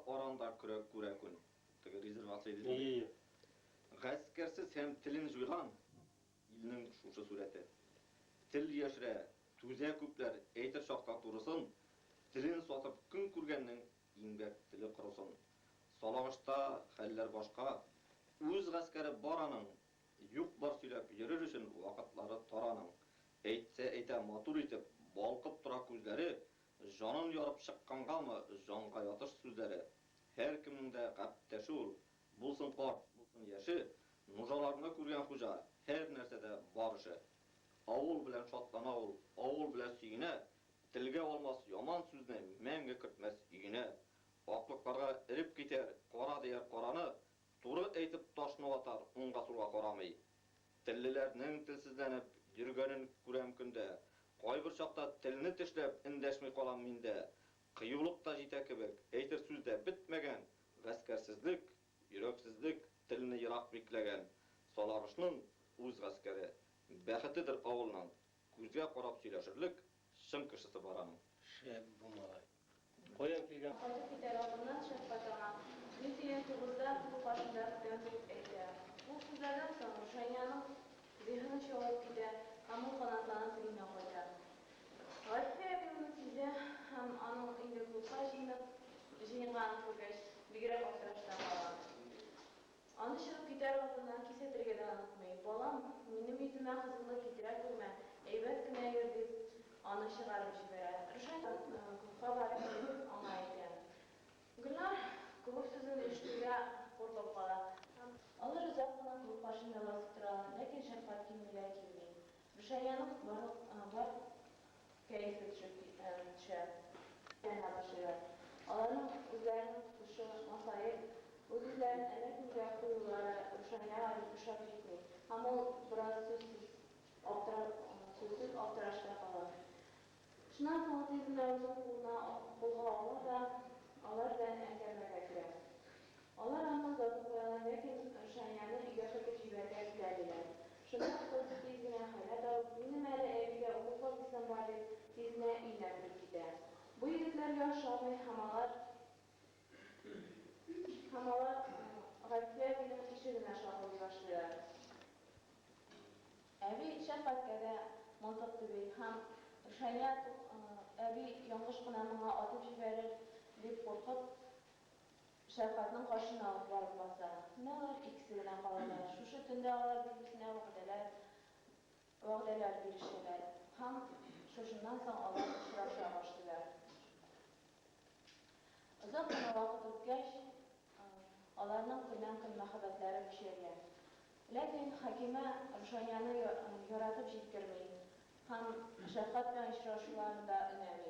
Аранда көрәк күрә күн. Теге резервация дидең бит. Ие-ие. Гаскәрсез һәм телен җуйган. Илнең шушы сурәте. Тел яшерә, түзә күпләр, әйтер чакта турысын, телен сатып көн күргәннең иңбәк теле корысын. Салагышта хәлләр башка. Үз гаскәре бар аның. Юк-бар сөйләп йөрер өчен вакытлары тар аның. Әйтсә әйтә матур итеп, балкып тора күзләре, Җанын ярып чыккангамы җанга ятыш сүзләре, һәркемнең дә гәптәше ул, булсын карт, булсын яше, нужаларны күргән хуҗа, һәр нәрсәдә бар эше. Авыл белән шатлана ул, авыл белән сөенә, телгә алмас яман сүзне мәңге кертмәс өенә. Аклыкларга эреп китәр, кара дияр караны, туры әйтеп ташны ватар, уңга-сулга карамый. Теллеләрнең телсезләнеп йөргәнен күрәм көндә. Кайбер чакта телне тешләп эндәшми калам мин дә. Кыюлык та җитә кебек, әйтер сүз дә бетмәгән, гаскәрсезлек, йөрәксезлек телне ерак бикләгән. Саларышның үз гаскәре, бәхетедер авылның, күзгә карап сөйләшерлек чын кешесе бар аның. Шәп бу малай. Каян килгән? Кайтып китәр алдыннан шәфкать аңа, Мин синең тугызда күл каршында көтәм, дип әйтә. Бу сүзләрдән соң Рушаниянең зиһене чагылып китә һәм ул канатланып өенә кайта. Гарифә әби моны сизә һәм аның инде клубка җыенып җыенганын күргәч, бигрәк аптырашта кала. Аны чыгып китәр алдыннан кисәтергә дә онытмый. Балам, минем йөземә кызыллык китерә күрмә, әйбәт кенә йөр, дип, аны чыгарып җибәрә. Ришат клубка барып керүен аңлай икән. Гөлнар клуб сүзен ишетүгә куркып кала. Алар озак кына клуб каршында басып торалар, ләкин Шәфкать килмиләр килми. Рушаниянең барлык Кәефе төшеп киткәнемчә яна башлыйлар. Аларның үзләренең тотышы масаеп, үз-үзләрен әллә кемгә куюлары Рушаняга бик ошап җитми һәм ул бераз сүзсез сүзсез аптырашта кала. Шуннан соң тиз генә үзен кулына кулга ала да алар белән әңгәмәгә керә. Алар аны озатып куялар, ләкин Рушанияне өйгә кертеп җибәрергә теләмиләр. Шунда ук кыз тиз генә халәт алып, Минем әле әбигә укуга кайтасым бар, дип, тиз генә өенә кереп китә. Бу егетләргә ошамый һәм алар һәм алар Гайфия әбинең ишегенә шакылдый башлыйлар. Әби шәфкатькә дә мылтык төби һәм Рушания, Тук, әби яңгыш кына моңа атып җибәрер, дип куркып, Шәфкатьнең каршына ук барып баса. Менә алар икесе генә калалар. Шушы төндә алар бер-берсенә вәгъдәләр вәгъдәләр бирешәләр һәм шушыннан соң алар очраша башлыйлар. Озак кына вакыт үткәч, аларның көннән-көн мәхәббәтләре көчәя. Ләкин Хәкимә Рушанияне яратып җиткерми һәм Шәфкать белән очрашуларын да өнәми.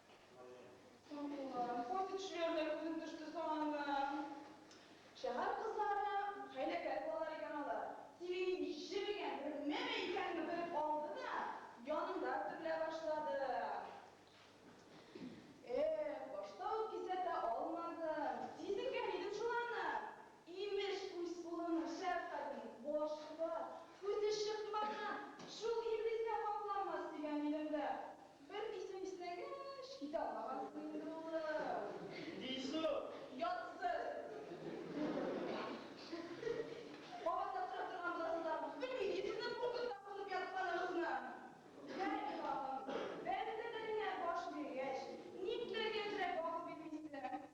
Пост төшүләре дә күренеп төште соң анда. Шәһәр кызлары хәйләкәр булалар икән алар. Тире нинди җеп икән, бер меме икәнне белеп алды да, янында бөтерелә башлады. Эх, башта ук кисәтә алмадым. Сизенгән идем шул аны. Имеш, үз улының шәфкатен башка, күзе чыкмаган шул Иблис тә капламас, дигән идем дә. Бер исем иснәгәч, китә алмагансың инде, улым. Дису! Ятсыз! Кабатлап сорап торган буласыз тагын. Белмим, мин сезнең куркытта кунып ятканыгызны. Бәлки тагын, бәлки тә тәненә баш биргәч, никләр яшьрәк вакыт бит мин сезгә.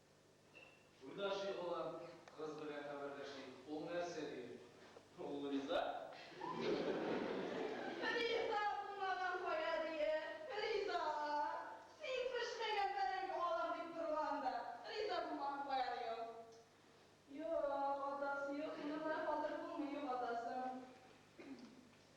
Уйнашыйк, балам, кыз белән хәбәрләшик. Ул нәрсә диер? Ул риза. Риза булмаган кая диер? Риза! Син пешмәгән бәрәңге алам дип торган да, риза булмаган кая ди ул? Юк, атасы юк, моны менә хәзер булмый югалтасың.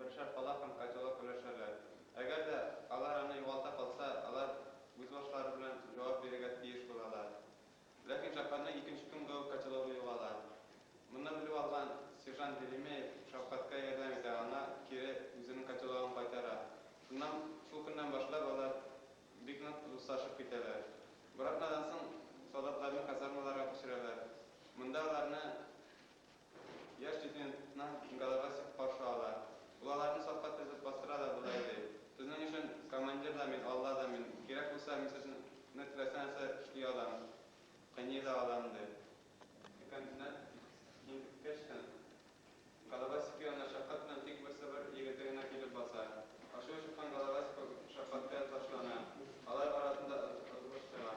Бер шәп бала һәм котелок өләшәләр. Әгәр дә алар аны югалта калса, алар үз башлары белән җавап бирергә тиеш булалар. Ләкин Җафарның икенче көнгә үк котелогы югала. Моны белеп алган сержант Велимеев шәфкатькә ярдәм итә, аңа кире үзенең котелогын кайтара. Шуннан, шул көннән башлап алар бик нык дуслашып китәләр. Бер атнадан соң солдатларны казармаларга күчерәләр. Монда аларны Яшь студентны инкаларга сик каршы ала. Ул аларны сафка тезеп бастыра да болай ди, Сезнең өчен командир да мин, Алла да мин. Кирәк булса, мин сезне теләсә нәрсә эшли алам, кыйный да алам, ди. Студентны интеккәч тә, Головастик янына шәфкать белән тик берсе бер егете генә килеп баса. Ачуы чыккан Головастик шәфкатькә ташлана. Алар арасында ызгыш чыга.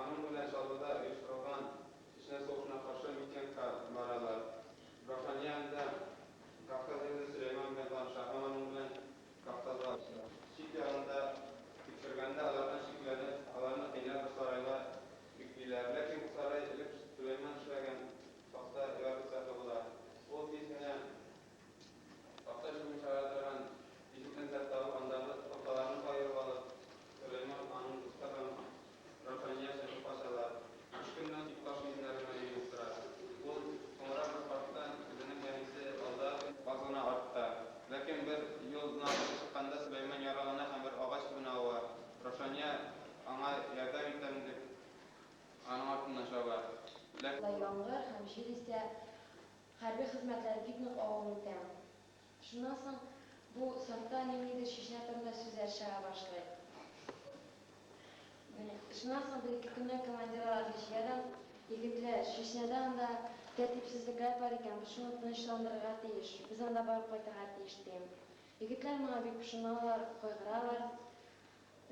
Аның белән Чаллыда оештырылган Чечня сугышына каршы митингка баралар. Рушания анда Кавказ егете Сөләйман белән таныша һәм аның белән Кавказга оча. Чик ягында тикшергәндә алардан шикләнеп, аларны кыйнап бер сарайга биклиләр. Ләкин бу сарай элек Сөләйман эшләгән такта яры цехы була. Ул тиз генә Аксай суын чыгара торган тишек тәмсәк табып, андагы урталарны каерып алып, Сөләйман, аның дусты һәм Раушания чыгып качалар. Өч көннән соң таш өемнәре мәлим булып тора. Ул соңрак бер карттан, үзенең әнисе алда, каз гына артта, ләкин бер юлны алып чыкканда Сөләйман яралана һәм бер агач төбенә ава. Раушания аңа ярдәм итәм дип, аның артыннан чаба, ләкин. Яңгыр һәм җил исә Хәрби хезмәтләр бик нык авыр үтә. Шуннан соң бу сафта ниндидер чишмә турында сүзләр чыга башлый. Шуннан соң бер-ике көннән командир аларны җыя-да, Егетләр, чишмәдә анда тәртипсезлекләр бар икән, бу шуны тынычландырырга тиеш, без анда барып кайтырга тиеш, ди. Егетләр моңа бик пошыналар, кайгыралар.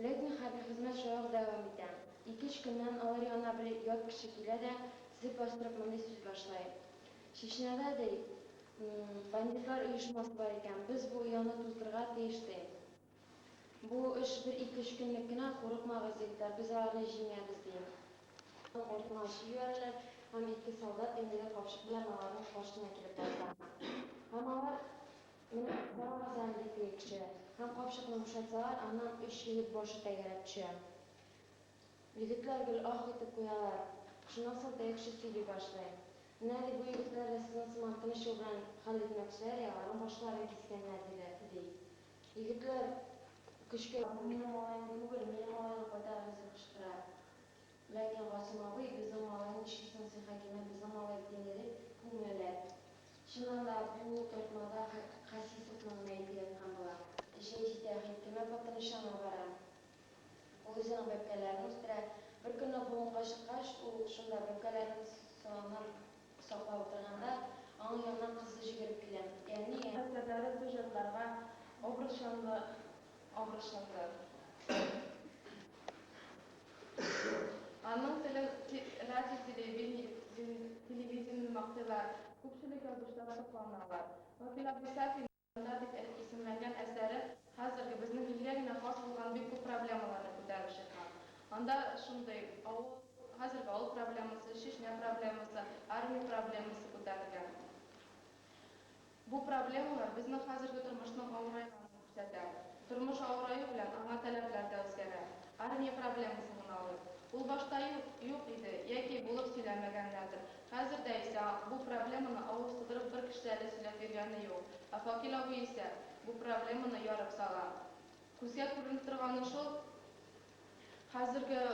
Ләкин хәзер хезмәт шулай ук дәвам итә. Ике-өч көннән алар янына бер ят кеше килә дә, тезеп бастырып мондый сүз башлый, Чечняда, ди, бандитлар оешмасы бар икән, без бу ояны туздырырга тиеш, ди. Бу эш бер ике-өч көнлек кенә, курыкмагыз, егетләр, без аларны җиңәбез, ди. Аның артына ачып җибәрәләр һәм ике солдат тәңгәле капчык белән аларның каршына килеп баса. Һәм алар. Менә барган диклекче һәм капчыкны бушатсалар, аннан өч егет башы тәгәрәп төшә. Егетләр гел аһ итеп куялар. Шуннан соң тәекче сөйли башлый. Менә, ди, бу егетләр дә сезнең сыман тыныч юл белән хәл итмәкчеләр, и аларның башларын кискәннәр, диде, ди. Егетләр көчкә. Бу минем малаем түгел, минем малайга кайтарыгыз, дип кычкыра. Ләкин Гасыйм абый, безнең малай ничек соң син, Хәкимә, безнең малай дигән ире күңеллерәк. Чыннан да, бу тартмада Хәсисовның мәете яткан була. Эчем җитә, Хәкимә хатын ишанга бара. Ул үзенең бәбкәләрен үстерә. Беркөнне болынга чыккач, ул шунда бәбкәләрен сыланып саклап утырганда, аның янына кызы җигереп килә. Әни, ә. Хатирәләре бу җаннарга образ чанлы, образ чанлы. Аның телен радио, телевидениене мактыйлар, күпчелек язучылар сокланалар. Вакил Абдисафин Җанда дип исемләнгән әсәре хәзерге, безнең илгә генә хас булган бик күп проблемаларны күтәреп чыккан. Анда шундый авыл, хәзерге авыл проблемасы, Чечня проблемасы, армия проблемасы күтәрелгән. Бу проблемалар безнең хәзерге тормышның авыраеганын күрсәтә. Тормыш авыраю белән аңа таләпләр дә үзгәрә. Армия проблемасын гына алыйк. Ул башта юк, юк иде, яки булып сөйләмәгәннәрдер. Хәзер дә исә бу проблеманы авыз тудырып бер кеше дә әле сөйләп йөргәне юк. Ә Факил абый исә бу проблеманы ярып сала. Күзгә күренеп торганы шул, хәзерге